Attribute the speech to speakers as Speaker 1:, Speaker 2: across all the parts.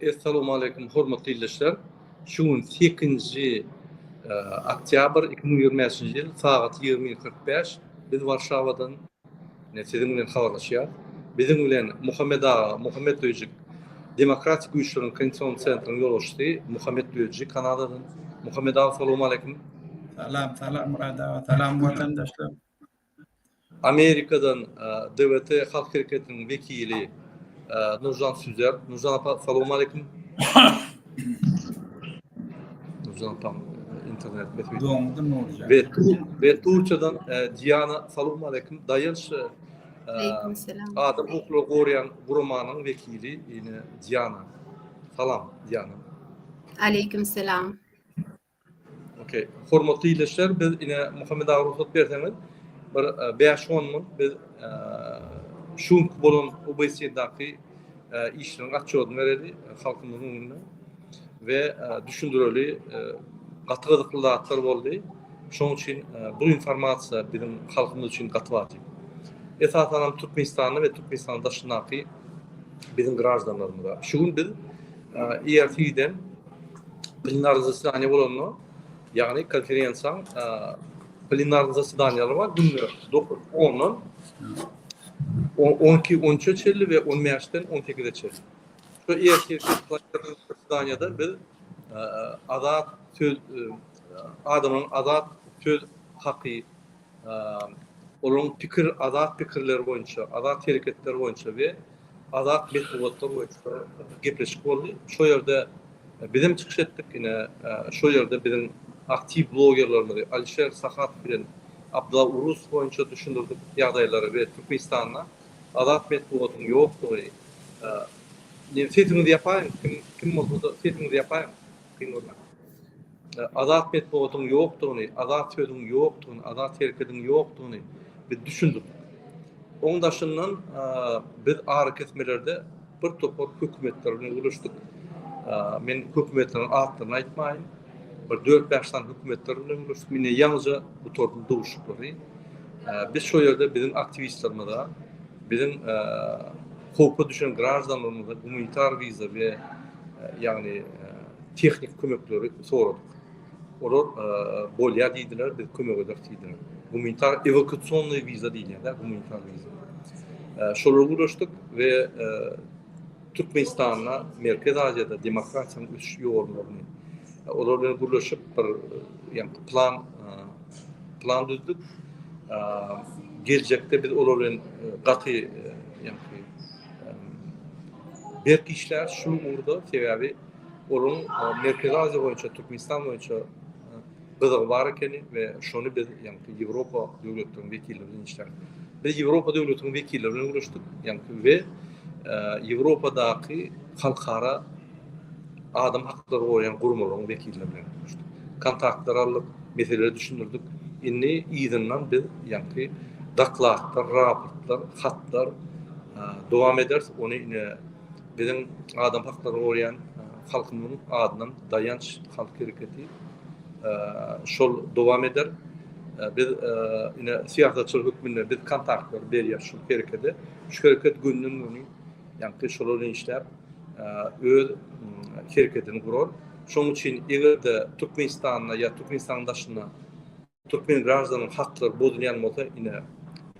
Speaker 1: Essalowmaleýkum hormatly ildeşler. Şu gün sekizinji oktýabr iki müň ýigrimi bäşinji ýyl sagat ýigrimi iki kyrk bäş biz Warşawadan siziň bilen habarlaşýarys. Biziň bilen Muhammet aga Muhammet Döjik Demokratik güýçleriň konsensus sentrynyň ýolbaşçysy Muhammet Döjik Kanadadan. Muhammet aga salowmaleýkum. Salam salam
Speaker 2: Murad aga salam watandaşlar. Amerikadan
Speaker 1: DWT halk hereketiniň wekili Nurjan Süzer. Nurjan apa, salam aleýkum. Nurjan apa, internet mesele. Doňdy Nurjan. Ve
Speaker 2: ve Turçadan
Speaker 1: Diana, salam aleýkum. Daýanç Aleýkum
Speaker 3: salam. Adam hukuklary
Speaker 1: goraýan guramanyň wekili ýene Diana. Salam Diana. Aleýkum
Speaker 3: salam.
Speaker 1: Okey. Hormatly ildeşler, biz ine Muhammet aga rugsat berseňiz, bir 5-10 minut biz şu günki bolan OBSE-daky işleriň atçodyny bereli halkymyzyň öňünde we düşündireli gaty gyzykly zatlar boldy. Şonuň üçin bu informasiýa biziň halkymyz üçin gaty wajyp. Esasanam Türkmenistanda we Türkmenistanyň daşyndaky biziň graždanlarymyza. Şu gün biz IRT-den plenar zasedaniýa bolanda, ýagny konferensiýaň plenar zasedaniýalary bar, günde dokuz, ondan on iki, on üçe çenli we on bäşden on sekize çenli. Şu ertir zasedaniýada biz azat söz adamyň azat söz haky olaryň pikir, azat pikirleri boýunça, azat hereketleri boýunça we azat metbugatlar boýunça gepleşik boldy. Şo ýerde bizem çykyş etdik, ine, şo ýerde biziň aktiw blogerlerimizi Alişer Sahatow bilen Abdylla Urus boýunça düşündirdik ýagdaýlary we Türkmenistanda azat metbugatyň ýokdugy, sesiňizi ýapaýyň, kim bolsada sesiňizi ýapaýyň, kyn görmäň. Azat metbugatyň ýokdugyny, azat sözüň ýokdugyny, azat herkediň ýokdugyny biz düşündik. Oň daşyndan biz arakesmelerde bir topar hökümetler bilen gürleşdik. Men hökümetleriň atlaryny aýtmaýyn. Bir dört-bäş sany hökümetler bilen gürleşdik. Indi ýaňyja gutardym duşuşyklary. Biz şo ýerde biziň aktiwistlerimize, biziň howpa düşen graždanlarymyza gumanitar wiza we ýagny Tehniki kömekleri soradyk. Olar bolýar diýdiler, biz kömek ederis diýdiler. Gumanitar ewakuasionnyý wiza diýilýär-de, gumanitar wiza. Şolara gürleşdik we Türkmenistanda, Merkezi Aziýada demokratiýanyň ösüş ýollaryny, olar bilen gürleşip bir ýa-da plan, plan düzdük. Geljekde biz olar bilen gaty, ýagny berk işläris şu ugurda, sebäbi, Onuň Merkezi Aziýa boýunça, Türkmenistan boýunça gyzygy bar ekeni we şony biz, ýagny Ýewropa döwletleriniň wekilleri bilen işläp, biz Ýewropa döwletiniň wekilleri bilen görüşdik, ýagny we Ýewropadaky halkara adam haklaryny goraýan guramalaryň wekilleri bilen görüşdik. Kontaktlar aldyk, meseleleri düşündirdik. Indi yzyndan biz, ýagny dokladlar, raportlar, hatlar dowam ederis. Ony ine Biziň adam haklaryny goraýan halkymyzyň adyndan Daýanç halk hereketi şol dowam eder. Biz ine syýasatçylar hökmünde biz kontaktlary berýäs şu herekede. Şu hereket günden-güni ýaňky şolar bilen işläp öz hereketini gurar. Şonuň üçin eger-de Türkmenistanda ýa Türkmenistanyň daşynda Türkmen graždanynyň haklary bozulýan bolsa, ine,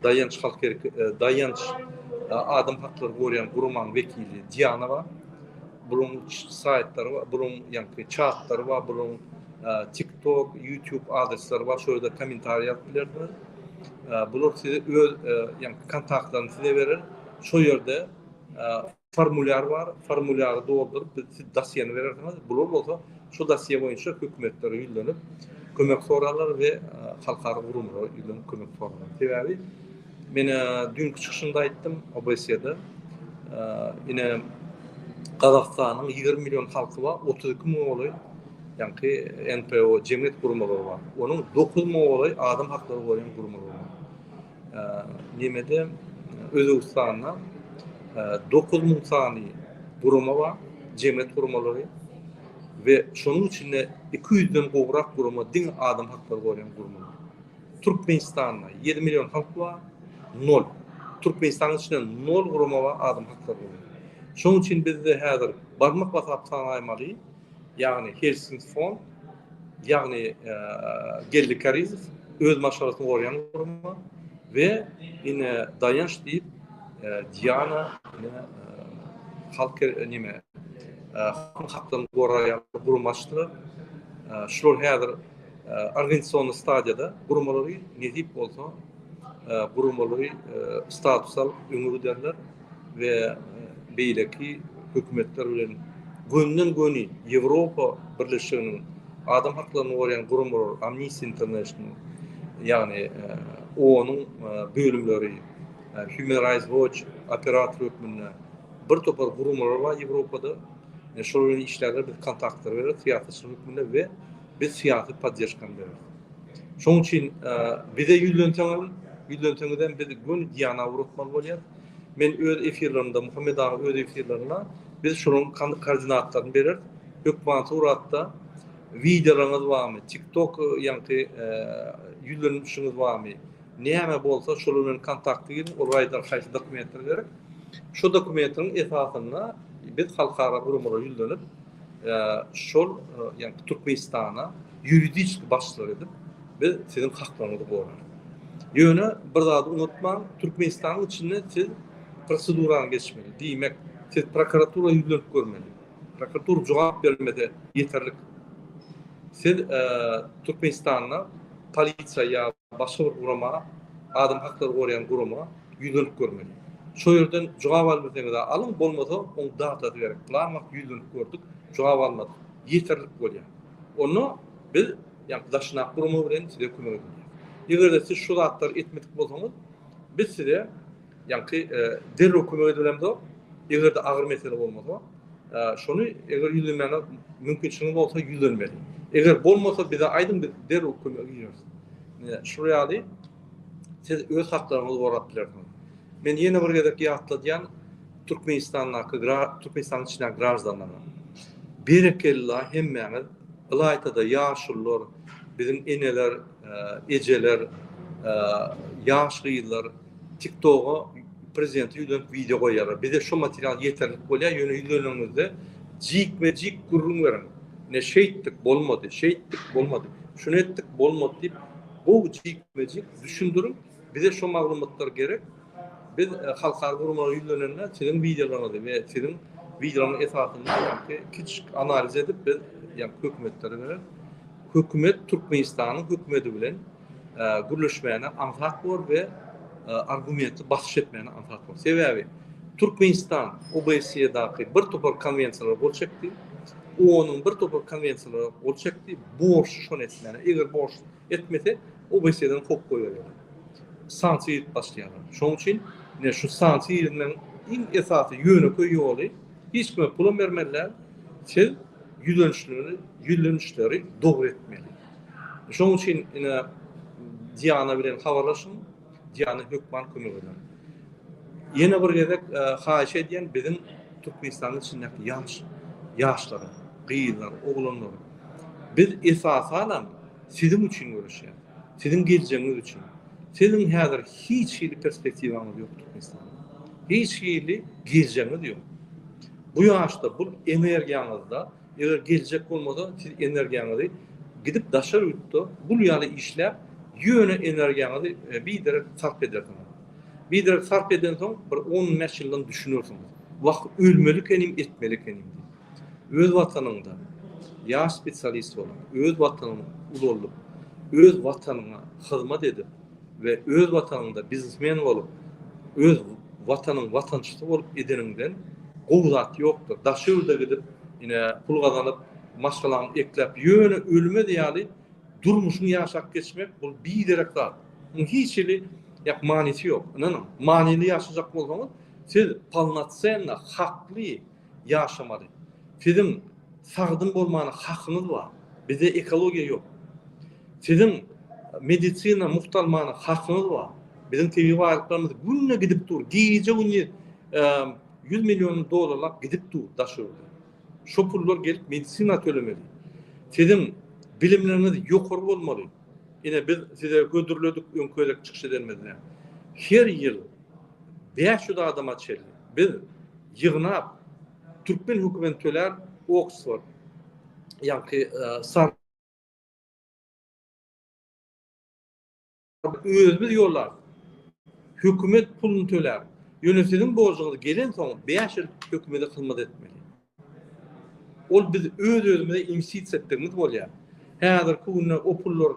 Speaker 1: Daýanç halk erki, Daýanç adam haklary gorýän guramanyň wekili Diana bar. Bularyň saýtlary bar, bularyň ýaňky çatlary bar, bularyň TikTok, YouTube adreslary bar, şol ýerde kommentariý ýazyp bilersiňiz. Bular size öz ýaňky kontaktlaryny size berer. Şol ýerde Formulýar bar, formulýary dolduryp, biz siz dosýeni berersiňiz, bular bolsa şu dosýe boýunça hökümetlere ýüzlenip kömek sorarlar we halkara gurumlara ýüzlenip kömek sorarlar. Sebäbi men düýnki çykyşymda aýtdym OBSE-de ine Gazagystanyň ýigrimi million halky bar, otuz iki müňe golaý ýaňky NPO jemgyýet guramalary bar. Onuň dokuz müňe golaý adam haklary goraýan guramalary bar. Nemede Özbegistanda dokuz müň sany gurama bar, jemgyýet guramalary we şonuň içinde iki ýüzden gowrak gurama diňe adam haklary goraýan guramalar. Türkmenistanda ýedi million halk bar, nol. Türkmenistanyň içinde nol gurama bar adam haklary goraýan. Şonuň üçin bizde häzir barmak basap sanaýmaly, ýagny Helsing Fond, ýagny Geldi Karizow öz maşgalasyny goraýan gurama we ine Daýanç diýip Diana halk neme halkyň haklaryny goraýan gurama açdylar. Şular häzir organizasion stadiýada guramalary nesip bolsa guramalary status alyp öňe giderler. we beýleki hökümetler bilen gönden göni Ýewropa birleşiginiň adam haklaryny goraýan guramalar Amnesty International ýagny onuň bölümleri Human Rights Watch operator hökmünde bir topar guramalar bar Ýewropada şolar bilen işlärler biz kontaktlary bereris syýasatçylar hökmünde we biz syýasy podderžkany bereris. Şonuň üçin bize ýüzlenseňem ýüzlenseňizem biz göni Diana ugratmaly bolýar. Men öz efirlerimde, Muhammet aga öz efirlerinde biz şolaryň kordinatlaryny bereris. Hökman suratda wideolaryňyz barmy, tiktok ýaňky ýüzlenilişiňiz barmy, näme bolsa şolar bilen kontakta giriň, ol raýda haýsy dokumentleri gerek. Şu dokumentleriň esasynda biz halkara guramalara ýüzlenip, şol ýa-da Türkmenistana ýuridiski başlyk edip, biz siziň haklaryňyzy gorarys. Ýöne bir zady unutmaň, Türkmenistanyň içinde siz prosedurany geçmeli. Diýmek, siz prokuratura ýüzlenip görmeli. Prokuratura jogap bermese ýeterlik. Siz Türkmenistanda polisiýa ýa başga bir gurama, adam haklaryny goraýan gurama ýüzlenip görmeli. Şo ýerden jogap albilseňiz-ä alyň, bolmasa oň datasy gerek. Pylan wagt ýüzlenip gördük, jogap almadyk. Ýeterlik bolýar. Onda biz ýa-da daşyndaky gurama bilen size kömek edilýär. Eger-de siz şu zatlary etmedik bolsaňyz, biz size Ýagty derrew kömek edibilemzok. Egerde agyr mesele bolmasa, şony eger ýüzlenmäne mümkinçiligiňiz bolsa ýüzlenmeli. Eger bolmasa bize aýdyň biz derrew kömege gireris. Şul ýaly siz öz haklaryňyzy gorap bilersiňiz. Men ýene bir gezek ýatladýan Türkmenistandaky Türkmenistanyň içindäki graždanlara. Berekella hemmäňiz ylaýtada ýaşulylar, biziň eneler, ejeler, ýaş gyzlar. TikToga prezidente ýüzlenip wideo goýýarlar. Bize şo material ýeterlik bolýar, ýöne ýüzleneniňizde jikme-jik gürrüň beriň. Ine şeýtdik, bolmady, şeýtdik, bolmady, şuny etdik, bolmady diýip, gowy jikme-jik düşündiriň. Bize şo maglumatlar gerek. Biz halkara guramalara ýüzlenende siziň wideolaryňyzy we siziň wideolaryň esasynda ýaňky kiçijik analiz edip biz ýaňky hökümetlere bereris. Hökümet Türkmenistanyň hökümedi bilen gürleşmäne aňsat bor we argumentli basyş etmäne aňsat bor. Sebäbi Türkmenistan OBSE-daky bir topar konwensiýalara gol çekdi. OON-yň bir topar konwensiýalara gol çekdi. Borçly şony etmäne. Eger borçly etmese, OBSE-den kop goýarlar. Sanksiýa edip başlaýarlar. Şonuň üçin ne şu sanksiýa edilmegiň iň esasy ýönekeý ýoly hiç kime pul bermeli däl. Siz ýüzlenişleri, ýüzlenişleri dogry etmeli. Şonuň üçin ine Diana bilen habarlaşyň. Diana hökman kömek eder. Ýene bir gezek haýyş edýän biziň Türkmenistanyň içindäki ýaş ýaşlara, gyzlar, oglanlar biz esasanam siziň üçin göreşýäs. Siziň geljegiňiz üçin. Siziň häzir hiç hili perspektiwaňyz ýok Türkmenistanda. Hiç hili geljegiňiz ýok. Bu ýaşda bu energiýaňyzda Eger geljek bolmasa siz energiýaňyzy gidip daşary ýurtda gul ýaly işläp ýöne energiýaňyzy biderek sarp edersiňiz. Biderek sarp edensoň bir on bäş ýyldan düşünersiňiz. Wah ölmeli ekenim etmeli ekenim diýip. Öz watanyňda ýaş spesialist bolup öz watanyňy ulaldyp öz watanyňa hyzmat edip. we öz watanyňda biznesmen bolup, öz watanyň watançysy bolup edeniňden gowy zat ýokdur. Daşy ýurda gidip, ine, pul gazanyp, maşgalaňy ekläp, ýöne ölmez ýaly durmuşyňy ýaşap geçmek, bul biderek zat. Munuň hiç hili, ýak, manysy ýok. Ynanyň, manyly ýaşajak bolsaňyz, siz polnocenno, hakly, ýaşamaly. Siziň sagdyn bolmana hakyňyz bar. Bizde ekologiýa ýok. Siziň medisina mugt almana hakyňyz bar. Biziň tebigy baýlyklarymyz günde gidip dur. Gije-gündiz ýüz million dollarlap gidip dur daş ýurda. Şo pullar gelip medisina tölemeli. Siziň bilimleriňiz ýokary bolmaly. Ine biz size hödürledik öňki gezek çykyş edenimizde. Her ýyl bäş ýüz adama çenli biz ýygnap, türkmen hökümetini tölän Oksford, ýaňky San özümiz ýollar, hökümet puluny töläp, ýöne siziň borjuňyz gelensoň bäş ýyl hökümete hyzmat etmeli. Ol biz öz-özümize imsitsi etdigimiz bolýar. Häzirki günde o pullar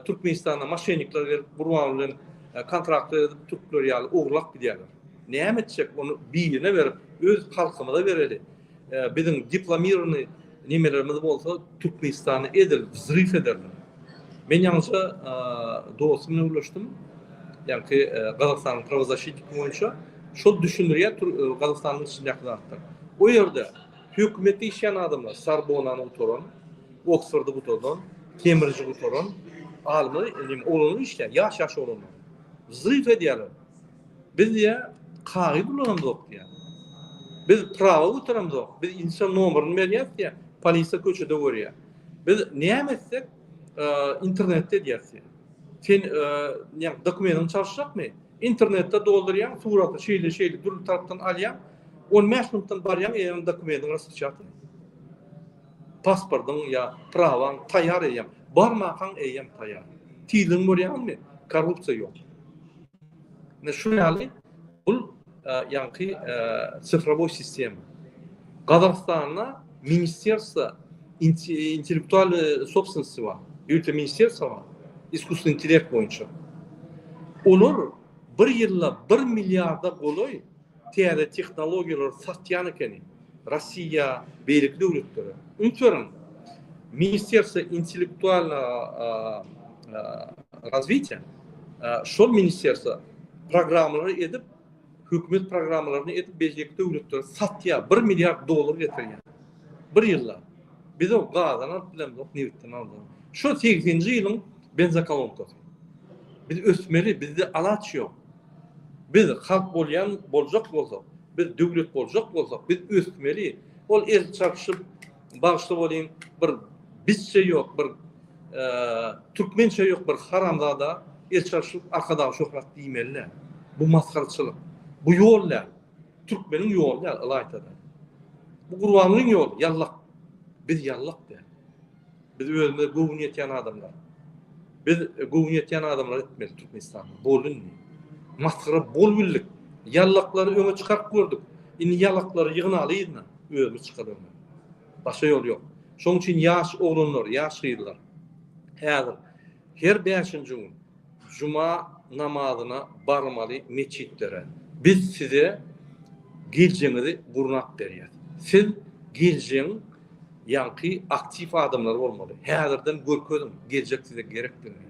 Speaker 1: Türkmenistana maşennikler gelip Gurbanguly bilen kontraktlar edip türkler ýaly ogurlap gidýärler. Näme etjek ony birine berip öz halkymyza bereli. Biziň diplomirownyý nemelerimiz bolsa Türkmenistany edil wzryw ederler. Men ýaňyja dostum bilen gürleşdim ýaňky Gazagystanyň prawozaşitniki boýunça. Şol düşündirýär tur Gazagystanyň içindäki zatlar. O ýerde hökümetde işleýän adamlar Sorbonany gutaran, Oksfordy gutadan, Kembriji gutaran alymlar indi oglanlar işleýär, ýaş ýaş oglanlar. Zrif edýärler. Biz diýýär kagyz ulanamzok diýýär. Biz prawa gutaramzok. Biz insa nomerini berýäs diýýär. Polisiýa köçede görýär. Biz näme etsek internetde edýäs diýýär. Sen ne dokumentin çalşjakmy? Internetde doldurýan suraty şeýle şeýle dürli tarapdan alýan. 15 minutdan barýan eýýäm dokumentin raspetýatyny. Pasportyň ýa prawaň taýýar eýýäm. Barmakaň eýýäm taýýar. Tizligini görýäňizmi? Korrupsiýa ýok. Ne şu ýaly bul ýaňky sifrowoý sistema. Gazagystanda ministrsiýa intellektual sopstwensy bar. Ýurtda ministrsiýa bar. Iskusny intellekt boýunça. Olar bir ýylda 1 milliarda golaý täze tehnologiýalary satýan ekeni. Rossiýa, beýleki döwletlere üns beriň. Ministerstwo intellektualnyýa razwitiýa şol ministerstwo programmalary edip, hökümet programmalaryny edip beýleki döwletlere satýar, bir milliard dollar getirýär. Bir ýylda. Biz o gazdan alyp bilemzok, nebitden aljak. Şo segsenji ýylyň benzokolonkasyny. Biz ösmeli, bizde alaç ýok. Biz halk bolýan boljak bolsak, biz döwlet boljak bolsak, biz ösmeli. Ol el çarpyşyp, bagyşly bolyň, bir bizçe ýok, bir türkmençe ýok bir haramzada el çarpyşyp Arkadag şöhrat diýmeli däl. Bu masgaraçylyk. Bu ýol däl. Türkmeniň ýoly däl ylaýta-da. Bu Gurbangulyň ýoly, ýallak. Biz ýallak däl. Biz özümize göwün ýetýän adamlar. Biz göwün ýetýän adamlar etmeli Türkmenistan. Bol indi. Masgara bol bildik. Ýallaklary öňe çykaryp gördük. Indi ýalaklary ýygnaly yzyna. Özümiz çykar öňe. Başga ýol ýok. Şoň üçin ýaş oglanlar, ýaş gyzlar. Häzir. Her bäşinji gün juma namazyna barmaly metjitlere. Biz size girjeňizi gurnap berýäs. Siz girjeň ýaňky aktiw adamlar bolmaly. Häzirden görkeziň geljek size gerekdigini.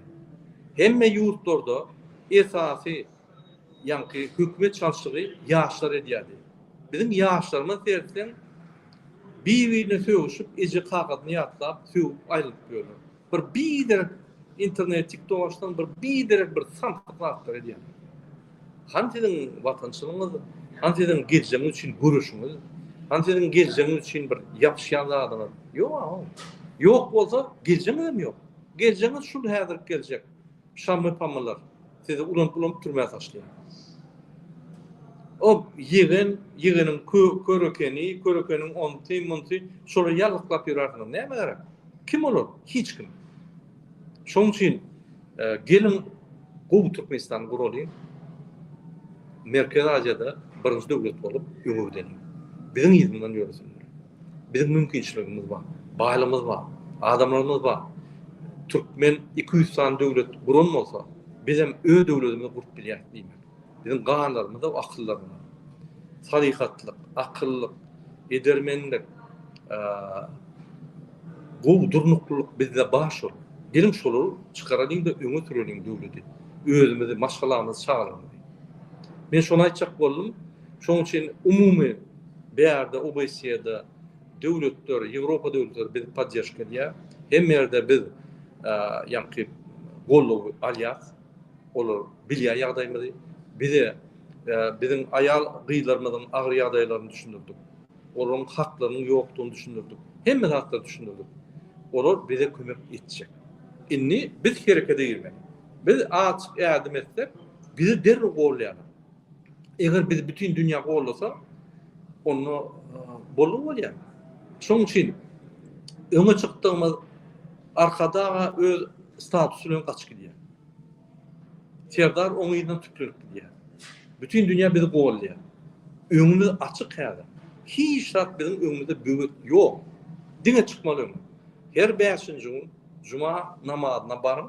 Speaker 1: Hemme ýurtlarda esasy ýaňky hökümet çalşygy ýaşlar edýärdi. Biziň ýaşlarymyz sertseň bir-birine sögüşip eje kakasyny ýatlap sögüp aýrylyp ýörler. Bir bider internetik dolaşdan bir bider bir santyk zatlar edýän. Han siziň watançylygyňyz, han siziň geljegiňiz üçin göreşiňiz, han siziň geljegiňiz üçin bir ýapyşýan zadyňyz. Ýok, ýok bolsa geljegiňiz hem ýok. Geljegiňiz şul häzirki geljek. Şammy pamylar sizi ulanyp ulanyp türmä taşlaýar. O ýegen ýegeniň kör ekeni kör ekeniň onsy munsy şolar ýallyklap ýörärsiňiz näme gerek. Kim olar hiç kim. Şoň üçin geliň gowy Türkmenistany guralyň. Merkezi Aziýada birinji döwlet bolup öňe gideliň. Biziň yzymdan ýöresinler. Biziň mümkinçiligimiz bar, baýlygymyz bar, adamlarymyz bar. Türkmen iki ýüz sany döwlet guran bolsa, bizem öz döwletimizi gurup bilýäris diýmek. Biziň ganlarymyzda akyldarlyk, salyhatlyk, akyllyk, edermenlik, gowy durnuklylyk bizde bar şol. Geliň şolary çykaralyň-da öňe süreliň döwleti, özümizi, maşgalamyzy, çagalarymyzy. Men şony aýtjak boldum. Şonuň üçin umumy Bärde OBSE-de döwletler, Ýewropa döwletleri bizi podderžka edýär. Hemme ýerde biz ýaňky goldawy alýas. Olar bilýär ýagdaýymyzy. Bize biziň aýal gyzlarymyzyň agyr ýagdaýlaryny düşündirdik. Olaryň haklarynyň ýokdugyny düşündirdik. Hemme zatlary düşündirdik. Olar bize kömek etjek. Indi biz herekete girmeli. Biz azjyk ädim etsek, bizi derrew goldaýarlar. Eger bizi bütin dünýä gollasa, onda bolan bolýar. Şonuň üçin öňe çykdygymyz Arkadaga öz statusy bilen gaçyp gidýär. Serdar oň yzyndan tüklenip gidýär. Bütin dünýä bizi gollaýar. Öňümiz açyk häzir. Hiç zat biziň öňümizde böwet ýok. Diňe çykmaly öňe. Her bäşinji gün juma namazyna baryň.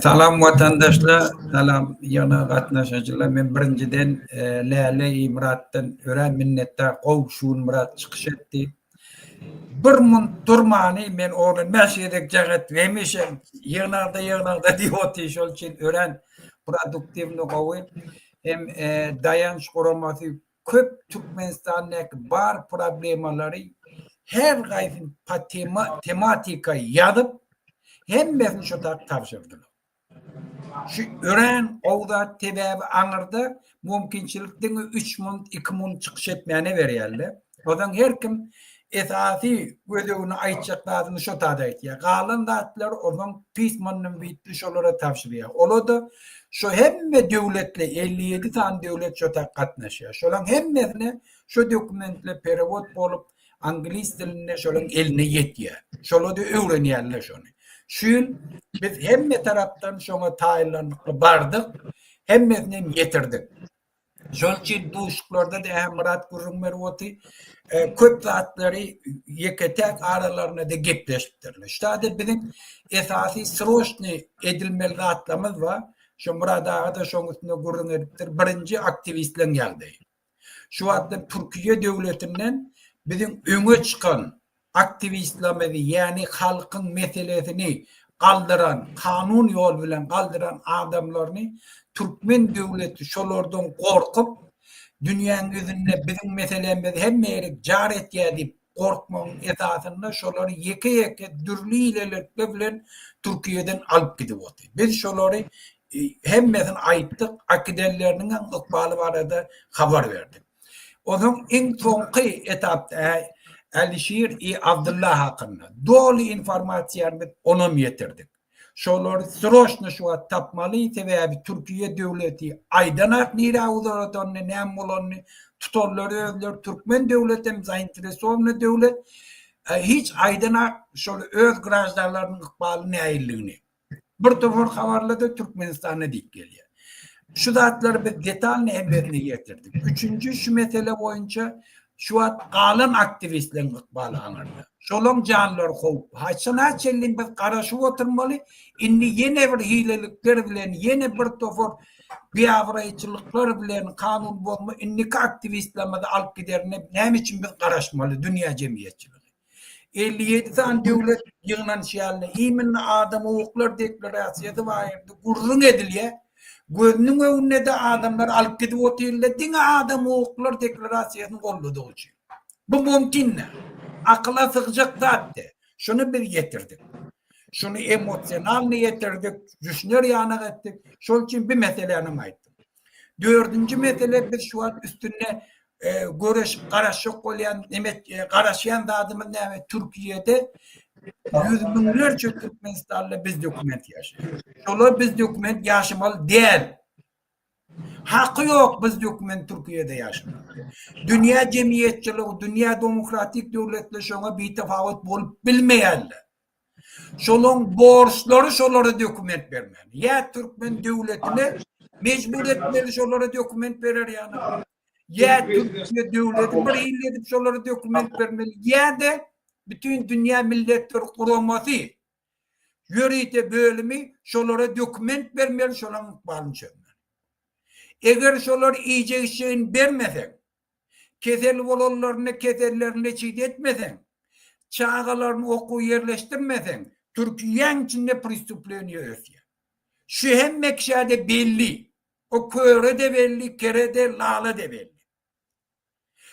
Speaker 2: Salam watandaşlar, salam ýygna gatnaşyjylar. Men birinjiden Läle Imyratdan örän minnetdar. Gowy Şunmyrat çykyş etdi. Bir munt durmany men ony bäş gezek jaňat hemişe ýygnagda ýygnagda diýip otyr. Şol üçin örän produktiwny gowy. Hem Daýanç guramasy köp Türkmenistandaky bar problemalary her haýsy tematika ýazyp hemmesini şu tak tabşyrdylar. Şu örän gowy zat sebäbi aňyrda mümkinçilik diňe üç munt iki munt çykyş etmäne berýärler. Ozan her kim Esasy gözegini aýtjak zadyny şo tada aýtýar. Galan zatlary ozan pysmanyny biýtdi şolara tabşyrýar. Ola-da şo hemme döwletli, elli ýedi sany döwlet şo tak gatnaşýar. Şolaň hemmesine şo dokumentler perewod bolup, anglis dilinde şolaň eline ýetýär. Şola-da öwrenýärler şony. Şu ýyl biz hemme tarapdan şoňa taýynlanykly bardyk, hemmesinem ýetirdik. Şonuň üçin duşuklarda-da hem Myrat gürrüň berip oty, e, köp zatlary ýeke-täk aralarynda-da gepleşipdirler. Şada biziň esasy sroçny edilmeli zatlarymyz bar. Şo Myrat aga-da şoň üstünde gürrüň edipdir. Birinji aktiwistleriň ýagdaýy. Şu wagtda Türkiýe döwletinden biziň öňe çykan Aktiwistlerimizi, ýagny halkyň meselesini galdyran, kanun ýol bilen galdyran adamlaryny türkmen döwleti şolardan gorkup, dünýäň ýüzünde biziň meselemizi hemme ýerik jar etýär diýip gorkmagyň esasynda şolary ýeke-ýeke dürli hilelikler bilen Türkiýeden alyp gidip otyr. Biz şolary hemmesini aýtdyk, äkidenleriniň hem ykbaly barada habar berdik. Onuň iň soňky etapda Älişir I Abdylla hakynda doly informasiýany biz onam ýetirdik. Şolary sroçno şu wagt tapmaly, sebäbi Türkiýe döwleti aýdanok nirä uzaradanyny, näme bolanyny, tutanlary özleri türkmen döwleti hem zainteresowanyý döwlet, hiç aýdanok şol öz graždanlarynyň ykbaly näilligini. Bir topar habarlarda Türkmenistanda diýip gelýär. Şu zatlary biz detalny hem ýerine ýetirdik. Üçünji şu mesele boýunça şu wagt galan aktiwistleriň ykbaly aňyrda. Şolaň janlary howply. Haçan haçanlyn biz garaşyp oturmaly. Indi ýene bir hilelikler bilen, ýene bir topar biabraýçylyklar bilen kanun bozma indiki aktiwistlerimizi alyp giderine näme üçin biz garaşmaly dünýä jemgyýetçiligi? Elli ýedi sany döwlet ýygnanyş ýalyna iýminli adam-hukuklar deklarasiýasy baýyrdy gürrüň edilýär. Gözüniň öňünde-de adamlary alyp gidip otyrlar diňe adam-hukuklar deklarasiýasyny golladygly üçin. Bu mümkin däl. Akyla sygjak zat däl. Şuny biz ýetirdik. Şuny emosionalny ýetirdik, düşüner ýanak etdik. Şol üçin bi meselänem aýtdym. Dördünji mesele, biz şu wagt üstünde göreşip garaşjak bolýan garaşýan zadymyz näme, Türkiýede ýüz müňlerçe türkmenistanly bizdokument ýaşaýar. Şolar bizdokument ýaşamaly däl. Haky ýok bizdokument Türkiýede ýaşamaga. Dünýä jemgyýetçiligi, dünýä demokratik döwletler şoňa bitafawut bolup bilmeýärler. Şolaň borçlary şolara dokument bermäne. Ýa türkmen döwletine mejbur etmeli şolara dokument berer ýaly. Ýa türkmen döwleti bir hili edip şolara dokument bermeli. Ýa-da bütün dünýä milletler guramasy ýörite bölümi şolara dokument bermeli şolaň ykbalyny çözmeli. Eger şolar iýjek-içjegini bermese, Kesel bolanlaryny kesellerinde çyt etmeseň, çagalaryny okuwa ýerleşdirmeseň, Türkiýäň içinde pristupleniýe ösýär. Şu hemme kişä-de belli. O köre-de belli, kere-de, lala-de belli.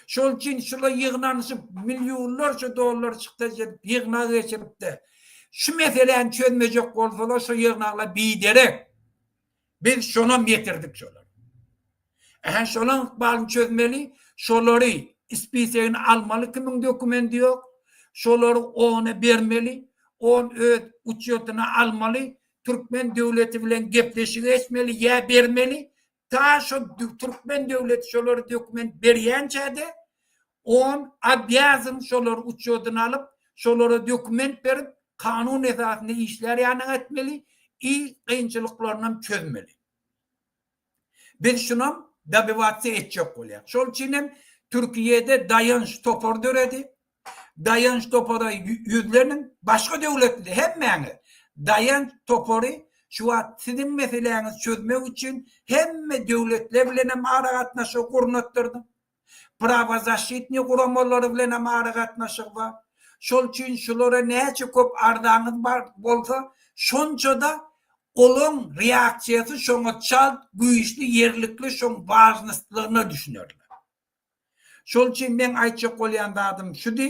Speaker 2: Şol üçin şular ýygnanyşyp, millionlarça dollar çykdaş edip, ýygnak geçirip-de, şu meseläni çözmejek bolsalar, şu ýygnaklar biderek. Biz şonam ýetirdik şolary. Ähä şolaň ykbalyny çözmeli, şolary spisegini almaly kimiň dokumendi ýok, şolary ona bermeli, on öz uçýotyna almaly, türkmen döwleti bilen gepleşik geçmeli ýa bermeli, ta şo türkmen döwleti şolara dokument berýänçä-de On obýazyn şolary uçodyna alyp, şolara dokument berip, kanun esasynda işlär ýanyňa etmeli i kynçylyklarynam çözmeli. Biz şunam dobywatsiýa etjek bolýak. Şol üçin hem Türkiýede Daýanç topary döredi. Daýanç topara ýüzleniň, başga döwletli hemmäňiz Daýanç topary şu wagt siziň meseläňizi çözmek üçin hemme döwletler bilen hem aragatnaşygy gurnatdyrdyň. prawozaşşitniý guramalary bilen hem aragatnaşygy bar. Şol üçin şulara näçe köp arzaňyz bar bolsa, şonça-da olaň reaksiýasy şoňa çalt, güýçli, ýerlikli, şoň wažnostlygyna düşünerler. Şol üçin meň aýtjak bolýan zadym şudy,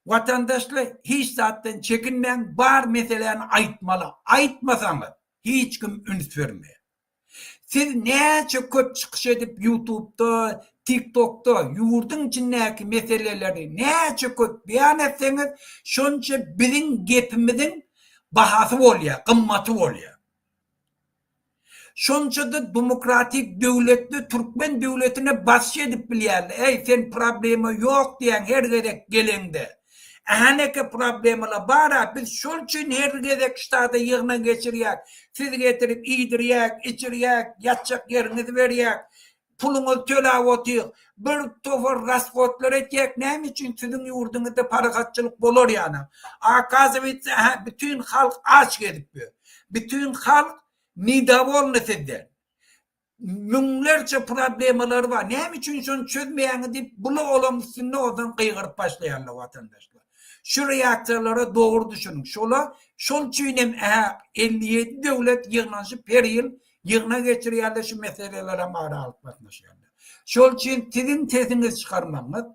Speaker 2: watandaşlar, hiç zatdan çekinmäň, bar meseläni aýtmaly, aýtmasaňyz, hiç kim üns bermeýär. Siz näçe köp çykyş edip ýutubda, tiktokda ýurduň içindäki meseleleri näçe köp beýan etseňiz şonça biziň gepimiziň bahasy bolýar, gymmaty bolýar. Şonçada dumokratik döwletde türkmen döwletine basyş edip bilýärler, äý sen problema ýok diýýäň her gezek geleňde. Haneke problemalar bara biz şol üçin her gezek ştada ýygnak geçirýäk, siz getirip iýdirýäk, içirýäk, ýatjak ýeriňizi berýäk, puluňyzy tölap otyk, bir topar rashodlar etýäk näme üçin siziň ýurduňyzda parahatçylyk bolar ýalam, akazywatsa hä bütin halk aç gezip ýör, bütin halk nidavolny sizden. Müňlerçe problemalary bar. Näme üçin şony çözmeýäňiz diýip, bula olaň üstünde onsoň gygyryp başlaýarlar watandaşlar. Şu reaksiýalara dogry düşüniň. Şola şol üçin hem ähak elli ýedi döwlet ýygnanyşyp her ýyl ýygnak geçirýärler şu meseleleri hem ara alyp gatnaşýarlar. Şol üçin siziň sesiňizi çykarmagyňyz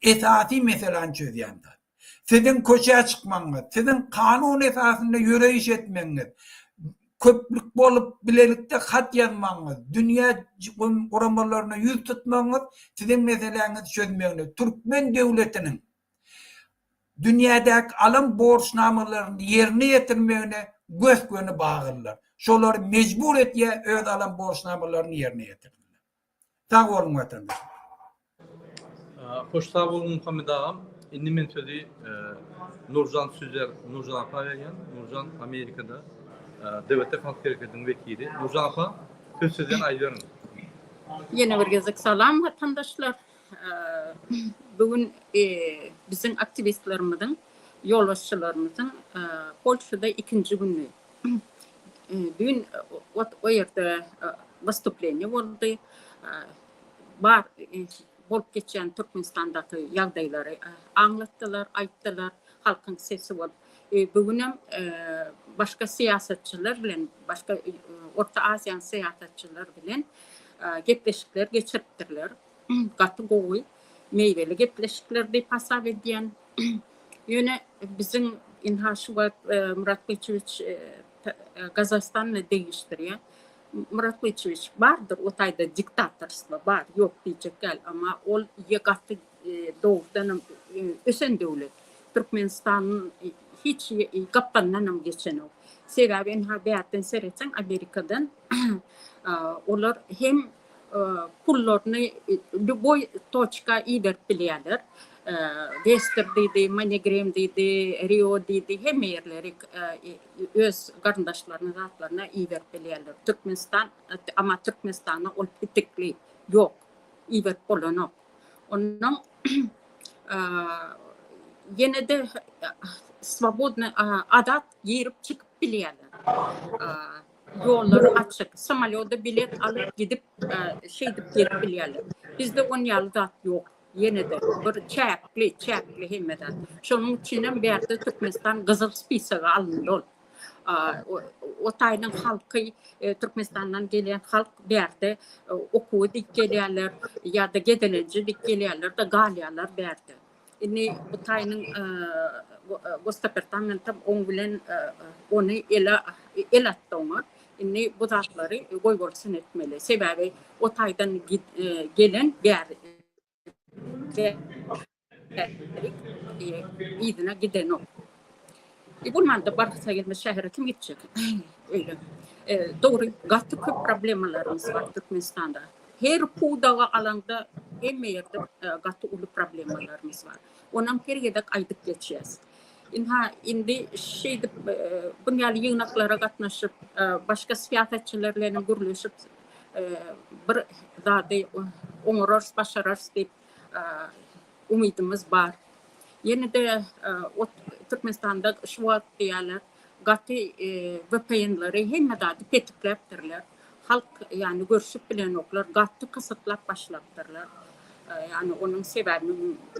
Speaker 2: esasy meseläni çözýän zat. Siziň köçä çykmagyňyz, siziň kanun esasynda ýöreýiş etmegiňiz, köplük bolup bilelikde hat ýazmagyňyz, dünýä guramalaryna ýüz tutmagyňyz siziň meseläňizi çözmegine, türkmen döwletiniň dünýädäki alan borçnamalaryny ýerine ýetirmegine gös-göni baglydyr. Şolary mejbur etýär öz alan borçnamalaryny ýerine ýetirmegine. Sag boluň watandaşlar.
Speaker 1: Hoş sag bol Muhammet agam. Indi men sözi e, Nurjan Süzer, Nurjan apa berýän. Nurjan Amerikada e, DBT halk hereketiniň wekili. Nurjan apa söz sizden aýdýaryn.
Speaker 4: Ýene bir gezek salam watandaşlar. E, bu gün e, biziň aktiwistlerimiziň, ýolbaşçylarymyzyň e, Polşada ikinji güni. Düýn ot o ýerde wystuplenýe boldy. Bar bolup geçýän Türkmenistandaky ýagdaýlary aňlatdylar, aýtdylar. Halkyň sesi bolup. Bu gün hem başga syýasatçylar bilen, başga Orta Aziýanyň syýasatçylary bilen gepleşikler geçiripdirler. gaty gowy, meýweli gepleşikler diýip hasap edýän. Ýöne biziň ynha şu wagt e, Murat Gyçywiç e, e, Gazagystanda degişdirýär. Murat Gyçywiç bardyr o taýda diktatorstwo bar, ýok diýjek däl, emma ol ýe gaty dogrudan hem ösen döwlet. Türkmenistanyň hiç gapdandan hem geçenok. Sebäbi ynha bärden seretseň Amerikadan olar hem pullaryny lýuboý toçka iberip bilýärler. Wester diýdi, Moneygram diýdi, Rio diýdi, hemme ýerleri öz garyndaşlaryna, zatlaryna iberip bilýärler. Türkmenistan, emma Türkmenistana ol petekli ýok, iberip bolanok. Ondan ýene-de swobodny, azat girip-çykyp bilýärler. ýollary açyk, samolýoda bilet alyp gidip, şeýdip gelip bilýärler. Bizde on ýaly zat ýok. Ýene-de bir çäkli, çäkli hemme zat. Şonuň üçin hem bärde Türkmenistan gyzyl spisaga alyndy ol. O taýdan halky, e, Türkmenistandan gelýän halk bärde e, okuwy dik gelýärler ýa-da gezelenje dik gelýärler-de galýarlar bärde. Indi bu taýynyň gostapertamentem oň bilen ony ele el atdy oňa. Indi bu zatlary goýbolsun etmeli. Sebäbi o taýdan gelen bäri yzyna gidenok. Ibn Manda barsa gelmez şähere kim gitjek? Öyle. E, doğru, gaty köp problemalarymız var Türkmenistanda. Her pudaga alanda hemme yerde e, gaty ulu problemalarymız var. Onam her gedek aydyp geçýäs. Inha indi şeýdip e, bu ýaly ýygnaklara gatnaşyp, e, başga syýasatçylar bilen gürleşip, e, bir zady oňararys, başararys diýip umydymyz bar. Ýene-de Türkmenistanda şu wagt diýýärler, gaty VPN-leri hemme zady petikläpdirler. Halk ýany görşüp bilenoklar, gaty gysyklap başlapdyrlar. Ýani onuň sebäbi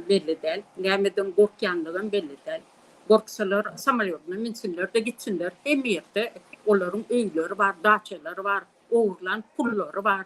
Speaker 4: belli däl. Nämeden gorkýanlygam belli däl. Gorksalar samolýodyna münsinler-de gitsinler. Hemme ýerde olaryň öýleri bar, daçalary bar, ogurlan pullary bar.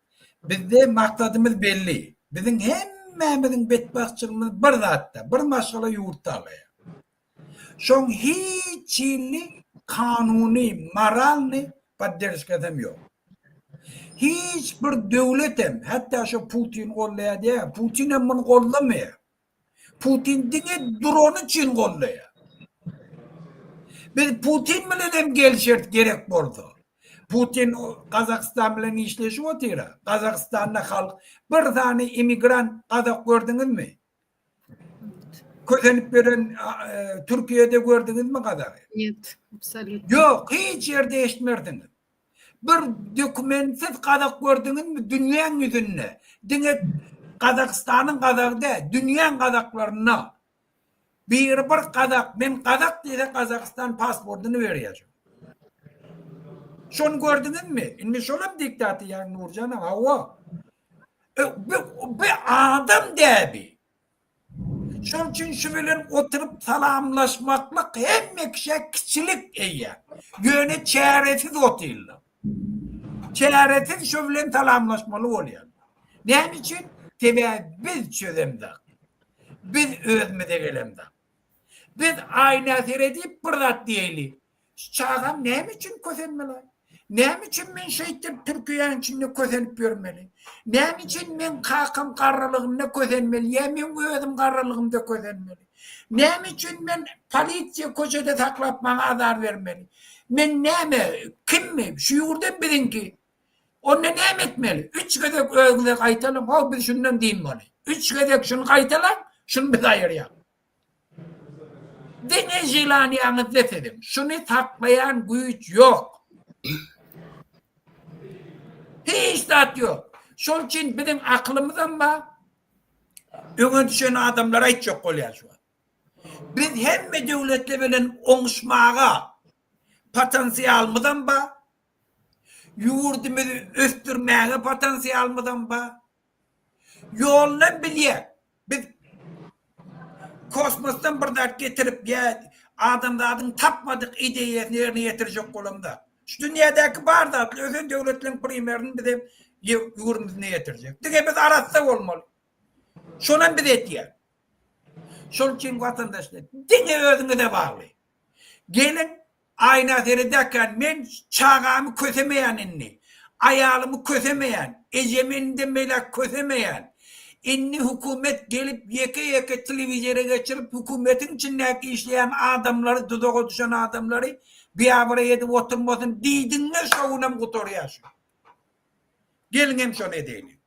Speaker 2: Bizde maksadymyz belli. Biziň hemmämiziň betbagtçylygymyz bir zatda, bir maşgala ýurt talaýar. Şoň hiç hili kanuny, moralny podderžkasam ýok. Hiç bir döwletem, hatda şo Putin gollaýar diýýär, Putinem muny gollamaýar. Putin diňe dron üçin goldaýar. Biz Putin bilen hem gelişeris gerek bolsa. Putin Gazagystan bilen işleşip otyra. Gazagystanda halk bir sany immigrant gazak gördüňizmi? Kösenip beren Türkiýede gördüňizmi gazagy?
Speaker 3: Ýok, hiç
Speaker 2: ýerde eşitmersiňiz. Bir dokumentsiz gazak gördüňizmi dünýäň ýüzünde? Diňe Gazagystanyň gazagy däl, dünýäň gazaklarynda biri bir gazak, men gazak diýse Gazagystan pasportyny berýär. Şony gördüňizmi? Indi şolam diktator ýa Nurjan aga? Hawa. Bu adam däbi. Şonuň üçin şu bilen oturyp salamlaşmaklyk hemme kişä kiçilik eýýär. Ýöne çäresiz otyrlar. Çäresiz şu bilen salamlaşmaly bolýarlar. Näme üçin? Sebäbi biz çözemzok. Biz özümize gelemzok. Biz aýna seredip bir zat diýeýli. Şu çagam näme üçin kösenmeli? Näme üçin men şeýtip türkiýäň içinde kösenip ýörmeli? Näme üçin men kakam garrylygynda kösenmeli ýa men özüm garrylygymda kösenmeli? Näme üçin men polisiýa köçede saklap maňa azar bermeli? Men näme, kimmi? Şu ýurdam biziňki. Onda näme etmeli? Üç gezek özüňize gaýtalyň, ho biz şundan din boli. Üç gezek şuny gaýtalaň, şuny biz aýyrýaň. Diňe želaniýaňyzda siziň. Şuny saklaýan güýç ýok. Hiç zat ýok. Şol üçin biziň akylymyzam bar. Öňe düşen adamlar aýtjak bolýar şu wagt. Biz hemme döwletler bilen oňuşmaga potensialymyzam bar. Ýurdumyzy ösdürmäge potensialymyzam bar. Ýoldan bilýär. Biz kosmosdan bir zat getirip ýa adamzadyň tapmadyk ideýasyny ýerine ýetirjek bolan zat. Şu dünýädäki bar zatlar ösen döwletleriň primerini biz hem ýurdumyzda ýetirjek. Diňe biz arassa bolmaly. Şonam biz etýäs. Şol üçin watandaşlar diňe özüňize bagly. Gelin, aýna seredäkän men çagamy kösemeýän indi. Aýalymy kösemeýän, ejemi indem beýläk kösemeýän. Indi hökümet gelip ýeke-ýeke telewizora geçirip hökümetiň içindäki işleýän adamlary duzaga düşen adamlary biabraý edip oturmasyn diýdiňmi şo günem gutarýar şu. Gelin hem şony edäýne.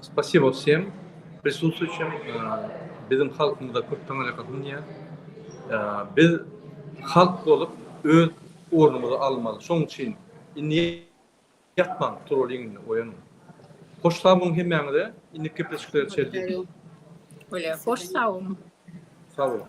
Speaker 1: Spasibo wsem prisustwuýçim. Biziň halkymyzda köp taňaýaka synýar. Biz halk bolup öz ornumyzy almaly. Şoň üçin indi ýatmaň, turaliň indi, oýanyň. Hoş sag boluň hemmäňize. Indiki gepleşikleri
Speaker 4: çenli.
Speaker 1: Hoş sag
Speaker 4: boluň.
Speaker 1: Sag
Speaker 4: boluň.